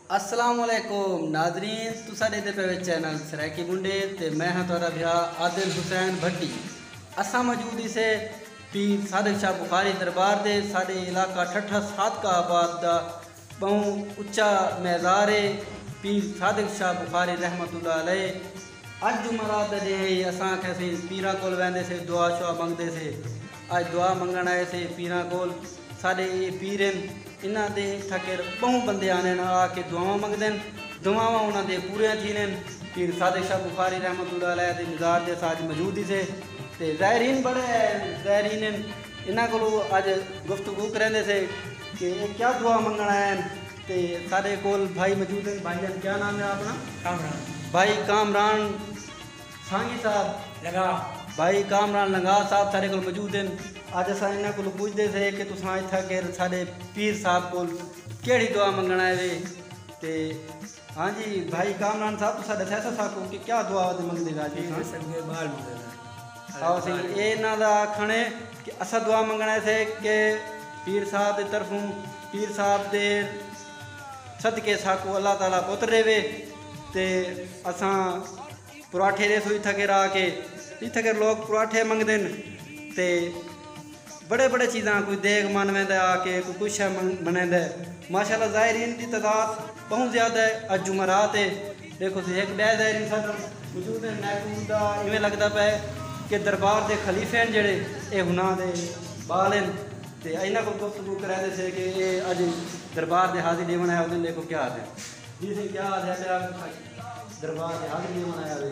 السلام علیکم ناظرین تساں ڈیندے پے وچ چینل سرائیکی منڈے تے میں ہاں تہاڈا بھیا عادل حسین بھٹی اساں موجود ہی سے پیر صادق شاہ بخاری دربار دے ساڈے علاقہ ٹھٹھا صادقہ آباد دا بہوں اچا میزار ہے پیر صادق شاہ بخاری رحمت اللہ علیہ اڄ جمعرات دا ݙینہہ ہئی اساں آکھیا سی پیراں کول ویندے سے دعا شعا منگدے سے اڄ دعا منگݨ آئے سے پیراں کول ساݙے اے پیر ہن انہاں دے تھکر ٻہوں بندے آندن آ کے دعاواں منگدن دعاواں انہاں دے پوریاں تھیندن۔ پیر صادق شاہ بخاری رحمۃ اللہ علیہ دے مزار تے اساں اڄ موجود ہی سے تے زائرین بڑے زائرین ہن انہاں کولوں اڄ گفتگو کریندے سے کہ اے کیا دعا منگݨ آئے ہن۔ تے ساڈے کول بھائی موجود ہن بھائی جان کیا نام ہے اپنا کامران بھائی کامران سانگی صاحب لنگاہ بھائی کامران لنگاہ صاحب ساڈے کول موجود ہن اج اساں انہاں کولوں پوچھدے سے کہ تساں اتھاں کر ساڈے پیر صاحب کول کیڑھی دعا منگن آئے وے تے ہاں جی بھائی کامران صاحب تساں ڈسے سا ساکوں کہ کیا دعا منگدے وے اج تساں جی اساں دعا بال مولے دا ہاوسی۔ اے انہاں دا آکھنڑ اے کہ اساں دعا منگنڑ ایسے کہ پیر صاحب دی طرفوں پیر صاحب دے صدقے ساکوں اللہ تعالی پتر ڈیوے تے اساں پراٹھے ڈیسوں اتھاں کر آکے اتھاں کر لوک پراٹھے منگدن تے بڑے بڑے چیزاں کوئی دیگ من ویندے آ کے کوئی کچھ شے بنیندے ماشاءاللہ زائرین دی تعداد بہوں زیادہ ہے اج جمعرات ہے دیکھو سی ہک بے زائرین ساتھ موجود ہیں محفوظ دا ایویں لگدا پے کہ دربار دے خلیفے ہیں جڑے اے ہناں دے بال ہیں تے اینا کو گفتگو کرے دے سے کہ اے اج دربار دے حاضری ڈیون آیا ہو دیکھو کیا آتے ہیں جی سے کیا آتے ہیں دربار دے حاضری ڈیون آیا ہو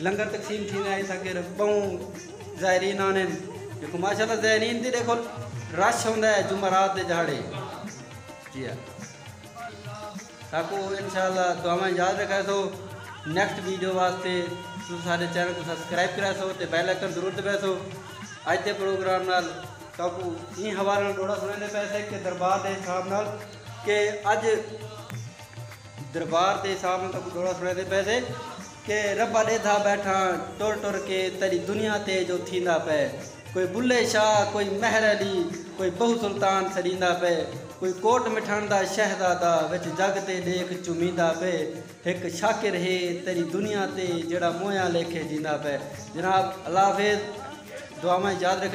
لنگر تقسیم تھیندا ہے تاں کر بہوں زائرین آندن ݙیکھو ماشاء اللہ زائرین دی ݙیکھو رش ہوندا ہے جمعہ رات دے ڄھاڑے جی ہا ساکو انشاء اللہ دعاواں یاد رکھا سو نیکسٹ ویڈیو واسطے تساں سارے چینل کو سبسکرائب کرا سو تے بیل آئکن ضرور دبا سو اج دے پروگرام نال ساکو این حوالے نال ڈوڑا سناندے پے سے کہ دربار دے حساب نال کہ اج دربار تے صاحب نے تاکوں ڈوہڑا سنڑیندے پئے سے کہ ربا ڈیدھا بیٹھاں ٹر ٹر کے تیڈی دنیا تے جو تھیندا پئے کوئی بلھے شاہ کوئی مہر علی کوئی بہو سلطان سڈیندا پئے کوئی کوٹ مٹھن دا شہزادہ وچ جگ تے ڈیکھ چمیندا پئے ہک شاکر ہے تیڈی دنیا تے جیڑھا مویاں لیکھے جیندا پئے جناب اللہ حافظ دعاواں اچ یاد رکھیو۔